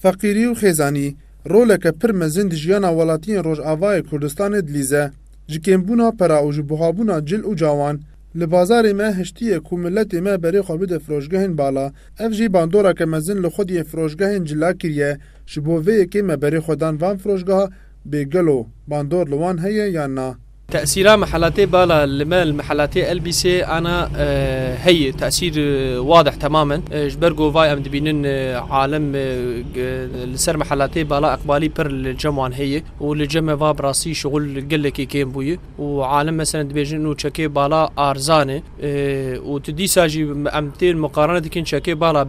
Feqîrî û xêzanî roleke pir mezin di jiyana welatiyên Rojavayê Kurdistanê dilîze. Ji kêmbûna pera û ji buhabûna cil û cawan, li bazarê me hiştiye ku miletê me berê xwe bide firoşgehên bala, ev jî bandoreke mezin li xwediyên firoşgehên cila kiriye, ji bo vê yekê me berê xwe dan van firoşgeha bê gelo bandor li wan heye yan na. Tesîra Mehelatê Bala li me li Mehelatê Elbîsê ana heye. Tesîr wadih temam in. Ji ber ku vay em dibînin alim li ser Mehelatê Bala Eqbalî pir li cem wan heye û li cem e va bi rastî şixul gelekî kêm bûye û alim meselen dibêjin nûçekê Bala Arzan e. û tu dîsa jî em tên miqarane dikin çekê bala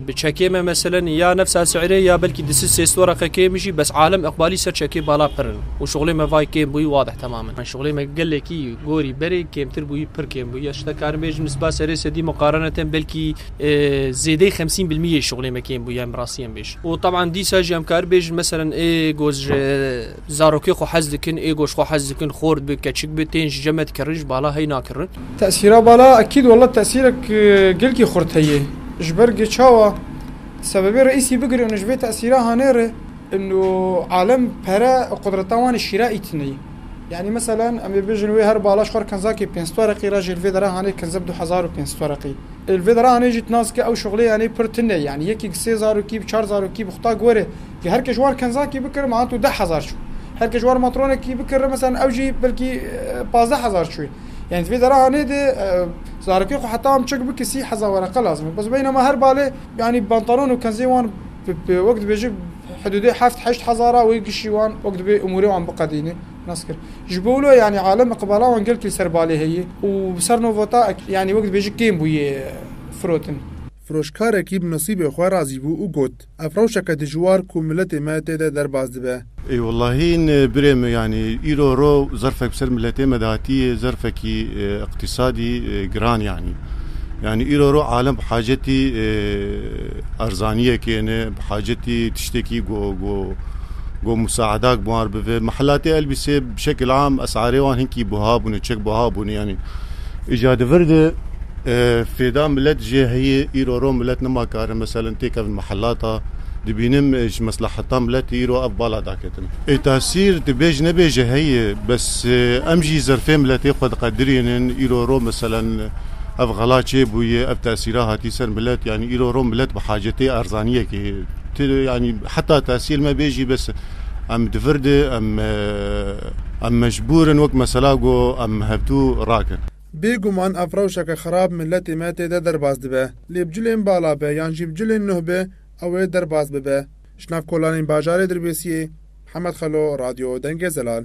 bi çekê me meseleni ya nefsa si'rê ya belkî di si sês wara qekê mijî bes alem iqbalî ser çekê bala pirin û şuxlê me vay kêm bûyî wadih temamin me şuxlê me gelekî gorî berê kêmtir bûyî pir kêm bûyî ya şte karim bêjim nisba serê sedî miqarane tem belkî zêdey xemsîn bilmî yê şuxlê me kêm bûyî em rastî em bêj û teban dîsa jî em kar bêjin meselen ê goz ji Zarokê xwe hez dikin, êgo ji xwe hez dikin, xort bi, keçik bi, tên ji ceme dikirin, ji bala hey nakirin. Tesîra bala ekîd wela tesîrek gelkî xurt heye. Ji ber gê çawa? Sebebê reîsî bigire û ji vê tesîra hane re û alem pere û qudrata wan ê şîra îtine ye. Yanî meselen em ê bêjin wê her bala ji xwe re kinzakê pênc toreqî re jî li vê dere hane kinze bi du hezar û pênc toreqî. Li vê dere hane jî tu nas dike ew şixulê yanî pir tune ye. Yanî yekî sê zarokî bi, çar zarokî bi xutak were. Ki her ke ji wan kenzakî bikir meha tu deh hezar çû. Her ke ji wan matronekî bikir meselan ew jî belkî pazdeh hezar çû yê. Yanî di vê dera hanê de zarokê xwe heta em çik bike sî heza wereqe lazim e. Bes beynama her balê yanî pantalon û kenzê wan bi wek dibêjin hidûdê heft heşt hezar a wê kişî wan wek dibê umûrê wan biqedîne nas kir. Ji bo wilo yanî aleme qibala wan gelkî li ser balê heye û bi ser no vota yanî wek dibêjin kêm bûye firotin. Firoşkarekî bi nisîbê xwe razî bû û got, Ev rewşeke dijwar ku miletê me tê de derbas dibe. Ê wellahî birê min yanî îro ro zerfek bi ser miletê me dihatiye zerfekî îqtîsadî giran yanî. Yanî îro ro alem bi hacetî erzaniyekê ne, bi hacetî tiştekî ku ku musaedak bi wan re bibe. Mihelatê elbîsê bi şekil am esarê wan hinkî buha bûne, çek buha bûne yanî. Îca di vir de fêda milet jê heye, îro ro milet nima karin meselin têkevin mihelata, dibînim ji mesleheta miletê îro ev bala daketin. Ê tasîr tu bêj nebêj jê heye bes em jî zerfê miletê xwe diqedirînin, îro ro meselin ev xela çê bûye, ev tasîra hatî ser milet yanî îro ro milet bi hacetê erzaniyekê tê yanî heta tasîr me bêjî bes. Em di vir de em em mecbûr in wek mesela ku em hevdû rakin. Bêguman ev rewşeke xerab miletê me tê de derbas dibe. Lê bi cilên bala be yan jî bi cilên nuh be ew ê derbas bibe. Ji nav kolanên bajarê Dirbêsiyê, Mihemed Xelo, Radyo Dengê Zelal.